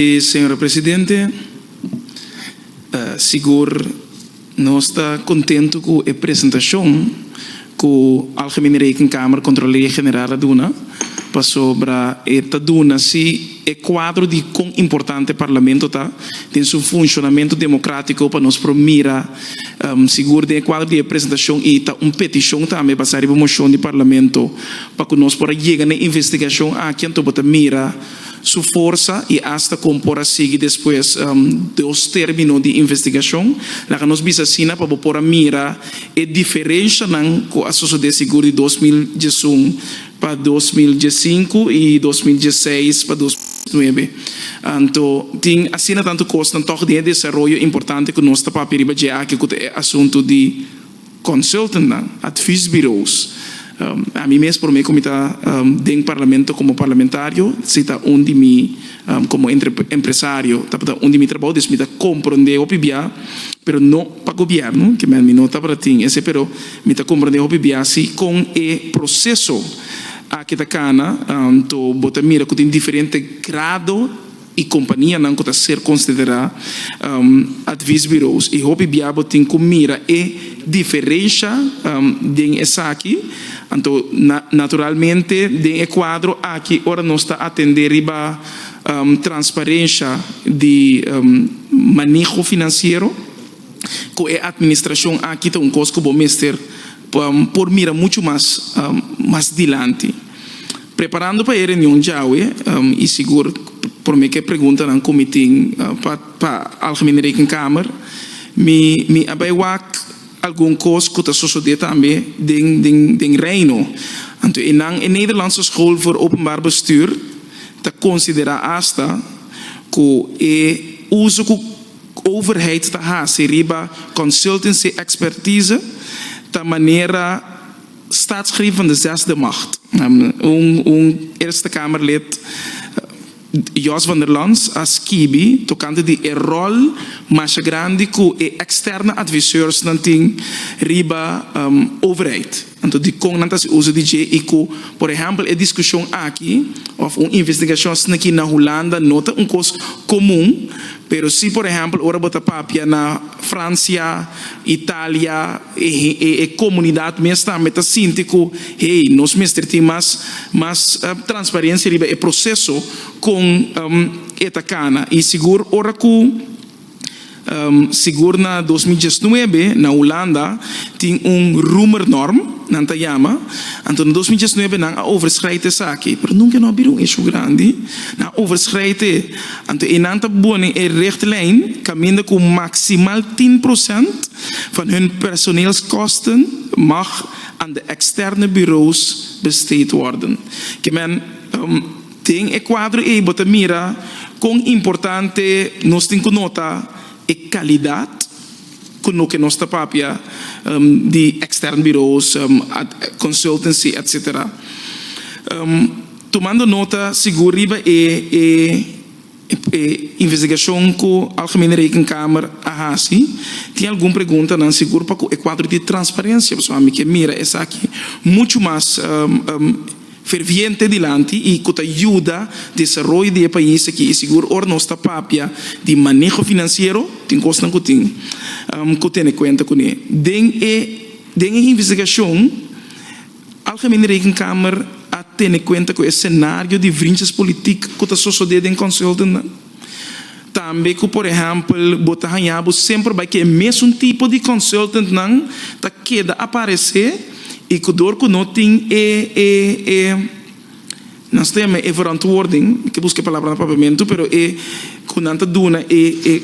Señor Presidente, sigur nos ta contento cu e presentacion cu Algemene Rekenkamer, Controlaria General, a duna, pasobra e ta duna si e cuadro di con importante Parlamento ta den su funcionamento democratico pa nos por mira. Sigur den e cuadro di e presentacion y ta un peticion tambe basa riba mocion di Parlamento pa cu nos por a yega na e investigacion aki anto bo ta mira. su forsa y hasta con por a sigui despues dos termino di investigacion. Laga nos bisa asina pa bo por a mira e diferencianan cu a sucede sigur di dos mil diesun pa dos mil diescinco y dos mil diesseis pa dos mil diesnuebe. Anto tin asina tanto cosnan toch den e desaroyo importante cu nos ta papia riba dje aki cu ta e asunto di. Consultantnan, adviesbureaus. Ami mes prome cu mi ta den Parlamento como parlamentario si ta un di mi como empresario tabata un di mi trabao dus mi ta compronde hopi bia pero no pa gobierno kimen mi no tabata tin ese pero mi ta compronde hopi bia si con e proceso aki ta cana to bo ta mira cu tin diferente grado y companianan cu ta ser considera adviesbureaus y hopi bia bo tin cu mira e diferencia den esaki, anto naturalmente den e cuadro aki ora nos ta atende riba transparencia di maneho financiero cu e administracion aki ta un cos cu bo mester por mira mucho mas dilanti. Preparando pa e reunion djawe y sigur prome cu e preguntanan cu mi tin pa Algemene Rekenkamer mi a bay wak algun cos cu ta sosode tambe den Reino. Anto enan e Nederlandse School voor Openbaar Bestuur ta considera hasta cu e uso cu overheid ta haci riba consultancy expertise ta manera Staatsgreep van de zesde macht. Un Eerste Kamerlid, Jos van der Lans, a skibi tokante di e ròl masha grandi ku e eksterne adviseursnan tin riba overheid. Anto dikon nan ta hasi uso di dje i ku por ehèmpel e diskushon aki òf un investigashon asina aki na Hulanda no ta un kos komun, pero si por ehèmpel ora bo ta papia na Fransia, Italia, E comunidad mes tambe ta sinti cu, hey, nos mester tin mas mas transparencia riba e proceso con e ta cana. Y sigur ora cu, sigur na dos mil diesnuebe na Hulanda tin un Roemernorm, nan ta yama, anto na dos mil diesnuebe nan a overschrijdt esaki, pero nunca no a bira un issue grandi, nan a overschrijdt e, anto eynan ta bone e richtlijn caminda cu maximal tin procent van hun personeelskosten mag aan de externe bureaus besteed worden. Ke men den e kuadro ei bo ta mira kon importante nos tin ku nota e kalidat ku loke nos ta papia di externe bureaus, consultancy etc. Tumando nota sigur riba e. E investigashon ku Algemene Rekenkamer a hasi tin algun preguntanan sigur pa ku e kuadro di transparensia pasobra ami ke mira esaki muchu mas ferviente dilanti i ku ta yuda desaroyo di e pais aki i sigur ora nos ta papia di maneho finansiero tin kosnan ku tin ku tene kuenta kuné den e den e investigashon Algemene Rekenkamer a tene kuenta ku e senario di vrinchas politik ku ta sosodé den konseldennan, tambe ku por ehèmpel bo ta hañá bo semper bai ku e mesun tipo di konseldennan ta keda aparesé i ku dor ku no tin e e e nan sta yama e verantwoording, mi ta buska e palabra na Papiamentu pero e ku nan ta duna e e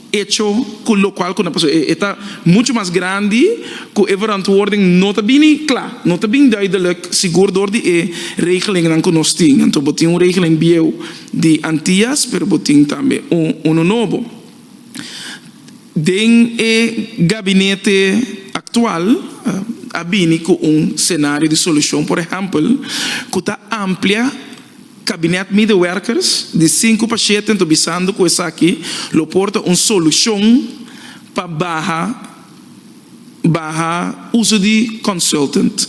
Echo cu locual cu na paso e ta mucho mas grandi cu e verantwoording no ta bini cla, no ta bin duidelijk sigur door di e regelingnan cu nos tin. Anto bo tin un regeling bieuw di Antillas pero bo tin tambe un uno nobo. Den e gabinete actual a bini cu un scenario di solucion, por ehempel, cu ta amplia. Kabinet Medewerkers di sinku pa shete nto bisando ku esaki lo por ta un solushon pa baha baha uso di consultant.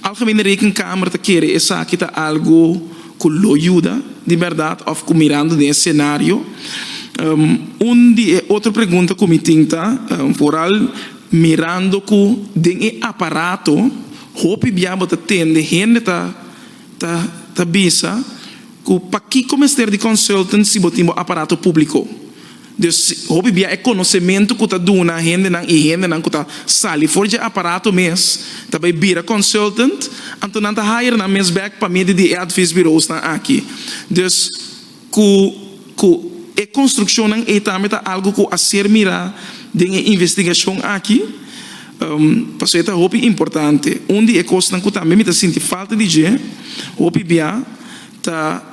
Algemene Rekenkamer ta kere esaki ta algu ku lo yuda di bèrdat òf ku mirando den e senario. Un di e otro pregunta ku mi tin ta foral mirando ku den e aparato hopi bia bo ta tende hende ta. Ta bisa ku pakiko mester di consultant si bo tin bo aparato públiko. Dus, hopi bia e konosementu ku ta duna hendenan i hendenan ku ta sali for dje aparato mes ta bai bira consultant, anto nan ta hire nan mes bèk pa medi di e advisbureausnan aki. Dus. Ku ku e konstrukshonnan ei tambe ta algu ku a ser mirá den e investigashon aki, pasobra e ta hopi importante. Un di e kosnan ku tambe mi ta sinti falta di dje hopi bia ta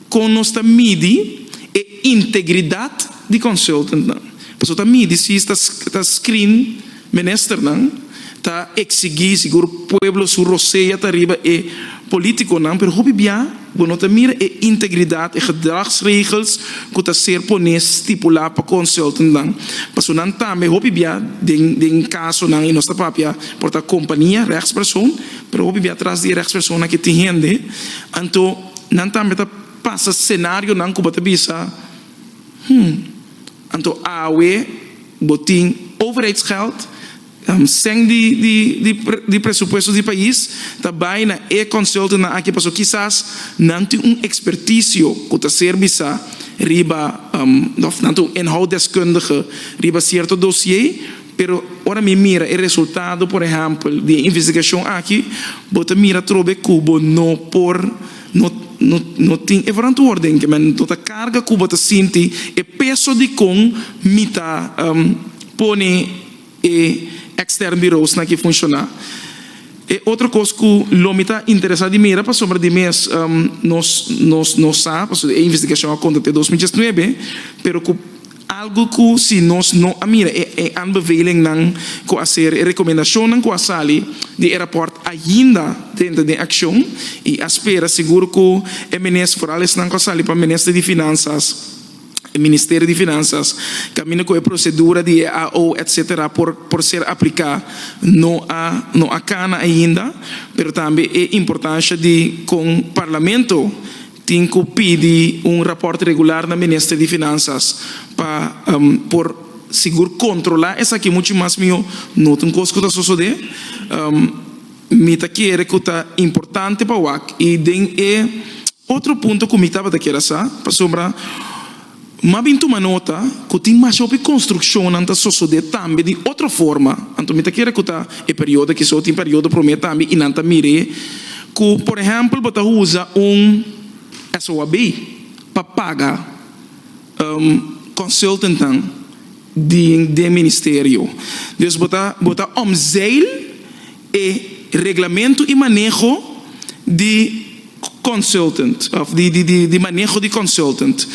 kon nos ta midi e integridat di consultantnan, pasobra ta midi si ta screen. Ministernan ta eksigi sigur pueblo su rosea ta riba e politikonan, pero hopi bia bo no ta mira e integridad, e gedragsregels ku ta ser poné stipulá pa consultantnan. Pasobra nan tambe hopi bia den den kasonan i nos ta papia por ta kompania, regspersoon, pero hopi bia tras di e regspersoonnan ke tin hende, anto nan tambe ta pasa senarionan ku bo ta bisa, Hm. Anto awe bo tin overheidsgeld, sèn di di presupuesto di pais, ta bai na e consultantnan aki pasobra kisas nan tin un experticio ku ta serbi sa riba òf nan ta un inhouddeskundige riba cierto dosie, pero ora mi mira e resultado por ehèmpel di e investigashon aki bo ta mira atrobe ku bo no por No tin e verantwoorden ke men no ta karga ku bo ta sinti e peso di kon mi ta pone e ekstern birousnan ke funshoná. E otro kos ku lo mi ta interesá di mira pasobra di mes nos no sa, pasobra e investigashon a konta te dos mil diesnuebe, pero ku. Algu ku si nos no a mira e aanbevelingnan ku a ser, e rekomendashonnan ku a sali di e rapòrt ainda denter den akshon i a spera sigur ku e minister, foral esnan ku a sali pa minister di Finansas, e Ministerio di Finanzas, kaminda ku e prosedura di e AO etc. Por por ser apliká no a no a kana ainda, pero tambe e importansha di kon Parlamento. Tin cu pidi un raport regular na Minister di Finanzas pa por sigur controla esaki mucho mas miho, no ta un cos cu ta sosode. Mi ta kere cu ta importante pa wak y den e otro punto cu mi tabata kere sa, pasobra. Mi a bin tuma nota ku tin mas hopi konstrukshonnan ta sosodé tambe di otro forma. Anto mi ta kere ku ta e periodo ki so tin periodo promé tambe i nan ta mir'é ku por ehèmpel bo ta usa un SOAB pa paga konsultentnan di den ministerio. Dus bo ta bo ta omzeil E reglamentu i maneho di consultant of di maneho di consultant.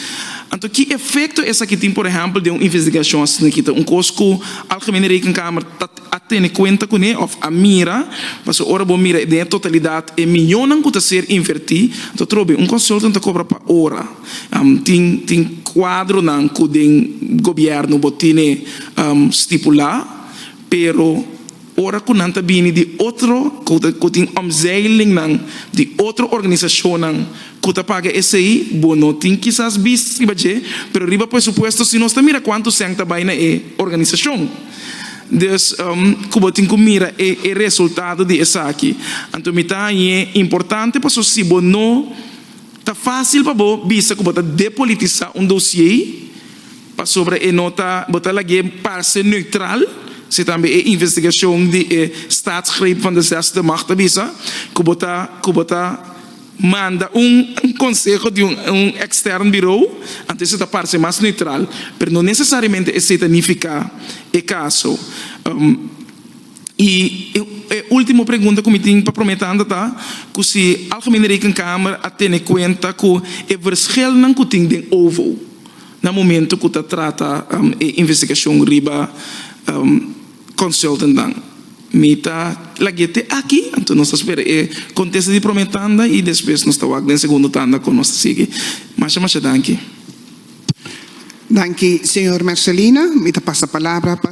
Anto ki efecto esaki tin por ehempel den un investigashon asina aki ta un cos cu Algemene Rekenkamer ta a tene cuenta cune of a mira pasobra ora bo mira den e totalidad e miyonan cu ta ser inverti anto trobe un consultant ta cobra pa ora tin tin cuadronan cu den Gobierno bo tene stipula pero Ora ku nan ta bini di otro, ku tin omzeilingnan di otro organisashonnan ku ta paga esei, bo no tin kisas bist riba dje, pero riba presupuesto si nos ta mira kuantu sèn ta bai na e organisashon. Dus, ku bo tin ku mira e resultado di esaki. Anto mi ta hañ'é importante pasobra si bo no ta fásil pa bo bisa ku bo ta depolitisá un dosié, Pasobra e no ta, bo ta lagu'é parse neutral, si tambe e investigashon di e Staatsgreep van Desastre mag ta bisa ku bo ta ku bo ta manda un konseho di un ekstern birou, anto esei ta parse mas neutral, pero no nesesariamente esei ta nifiká e kaso. I e último pregunta ku mi tin pa promé tanda ta ku si Algemene Rekenkamer a tene kuenta ku e verschelnan ku tin den OVO, Na momento cu ta trata e investigacion riba consultantnan. Mi ta lagu'e te aki, anto nos ta spera e contesta di prome tanda y despues nos ta wak den segundo tanda con nos ta sigui. Masha masha danki. Danki, señor Mercelina. Mi ta pasa palabra pa.